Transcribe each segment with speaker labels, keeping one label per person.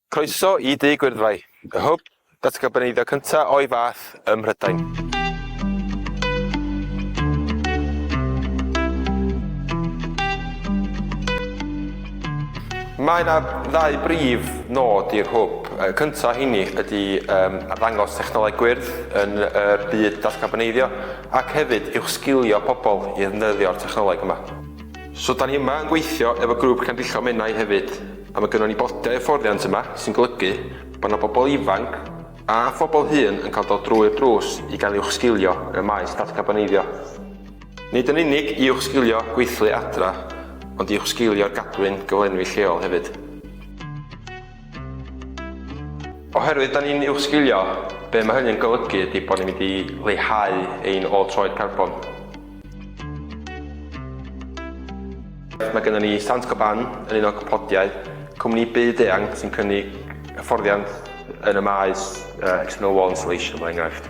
Speaker 1: Croeso i Dŷ Gwyrddfai, y hwb datgarboneiddio cyntaf o'i fath ym Mhrydain. Mae yna ddau brif nod i'r hwb. Y cyntaf o heini ydy arddangos technoleg gwyrdd yn y byd datgarboneiddio ac hefyd uwchsgilio pobl i ddefnyddio'r technoleg yma. So 'da ni yma yn gweithio efo grŵp Llandrillo Menai hefyd. A mae gynnon ni botiau hyfforddiant yma sy'n golygu bod 'na bobl ifanc a phobl hŷn yn cael dod drwy'r drws i gael uwchsgilio yn y maes datcarboneiddio. Nid yn unig i uwchsgilio gweithlu adra ond i uwchsgilio'r gadwyn gyflenwi lleol hefyd. Oherwydd 'da ni'n uwchsgilio, be' ma' hynny'n golygu ydi bod ni'n mynd i leihau ein ôl troed carbon. Mae gennym ni Saint-Gobain yn un o cwmpodiau, cwmni byd eang sy'n cynnig hyfforddiant yn y maes uh, external wall insulation, mae'n enghraifft.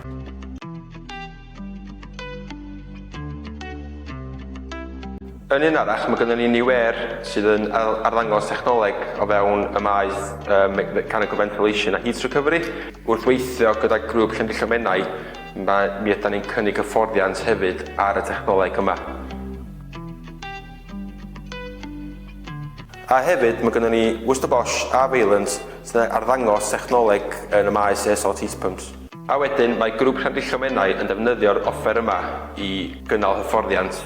Speaker 1: Yn un arall, mae gennym ni New Air sydd yn arddangos technoleg o fewn y maes uh, mechanical ventilation a heat recovery. Wrth weithio gyda grŵp Llangello Menai, Mae, mi ydan ni'n cynnig hyfforddiant hefyd ar y technoleg yma. A hefyd, mae gennym ni Worcester Bosch a Vaillant sy'n arddangos technoleg yn y maes ESOT Heat Pumps. A wedyn, mae Grŵp Llandrillo Menai yn defnyddio'r offer yma i gynnal hyfforddiant.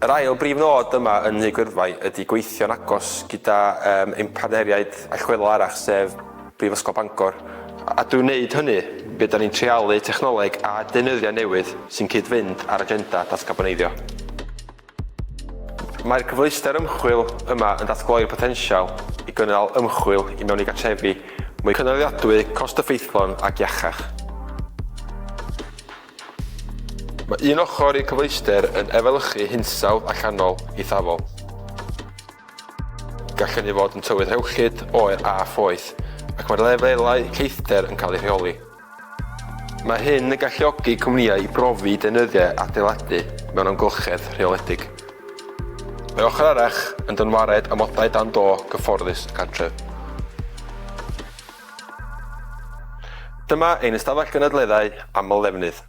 Speaker 1: Yr ail brif nod yma yn Nhŷ Gwyrfai ydy gweithio'n agos gyda yym ein partneriaid allweddol arall sef Brifysgol Bangor, a drwy wneud hynny be da ni'n treialu technoleg a deunyddiau newydd sy'n cyd-fynd â'r agenda datgaboneiddio. Mae'r cyfleuster ymchwil yma yn datgloi'r potensial i gynnal ymchwil i mewn i gartrefi mwy cynaliadwy, cost-effeithlon ac iachach. Mae un ochr i'r cyfleuster yn efelychu hinsawdd allanol eithafol. Gall hynny fod yn tywydd rhewllyd, oer a phoeth, ac mae'r lefelau lleithder yn cael eu rheoli. Mae hyn yn galluogi cwmnïau i brofi deunyddiau adeiladu mewn amgylchedd rheoledig. Mae ochr arall yn dynwared amodau dan do gyfforddus y cartref. Dyma ein ystafell gynadleddau aml ddefnydd.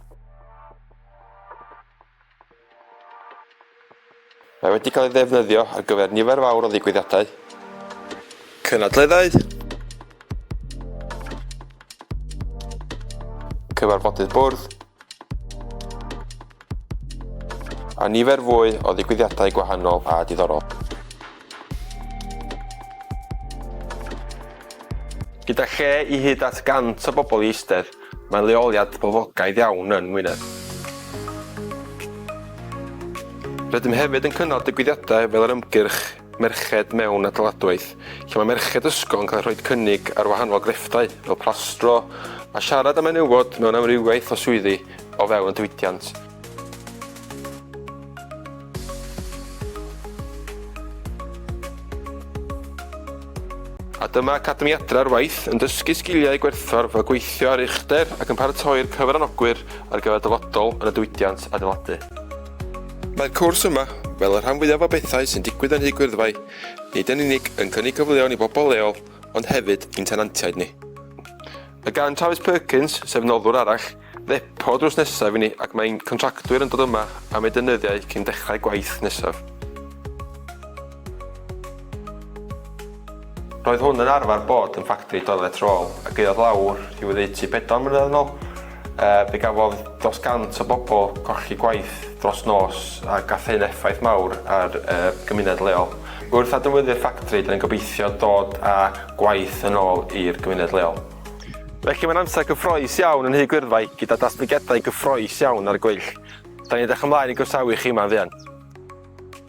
Speaker 1: Mae wedi cael ei ddefnyddio ar gyfer nifer fawr o ddigwyddiadau, cynadleddau, cyfarfodydd bwrdd, A nifer fwy o ddigwyddiadau gwahanol a diddorol. Gyda lle i hyd at 100 o bobl i eistedd, mae leoliad boblogaidd iawn yn Ngwynedd. Rydym hefyd yn cynnal digwyddiadau fel yr ymgyrch merched mewn adeiladwaith, lle mae merched ysgol yn cael eu rhoi cynnig ar wahanol grefftau, fel plastro a siarad am menywod mewn amrywiaeth o swyddi o fewn y diwydiant. A dyma Academi Adra ar Waith yn dysgu sgiliau gwerthfawr fel gweithio ar uchder ac yn paratoi'r cyfranogwyr ar gyfer dyfodol yn y diwydiant adeiladu. Mae'r cwrs yma, fel y rhan fwyaf o bethau sy'n digwydd yn Nhŷ Gwyrdfai, nid yn unig yn cynnig cyfleon i bobl leol ond hefyd i'n tenantiaid ni. Mae gan Travis Perkins, sef noddwr arall, ddepo drws nesaf i ni ac mae ein contractwyr yn dod yma am eu deunyddiau cyn dechrau gwaith nesaf. Roedd hwn yn arfer bod yn ffactri doilets rôl a gaeodd lawr i oddeutu pedwar mlynedd yn ôl. Yy, fe gafodd dros 100 o bobl colli gwaith dros nos a gath hyn effaith mawr ar y gymuned leol. Wrth adnewyddu'r ffactri, dyn ni'n gobeithio dod â gwaith yn ôl i'r gymuned leol. Felly mae'n amser cyffroes iawn yn Nhŷ Gwyrddfai gyda datblygiadau cyffroes iawn ar y gweill. Da ni'n edrych ymlaen i groesawu chi yma yn fuan.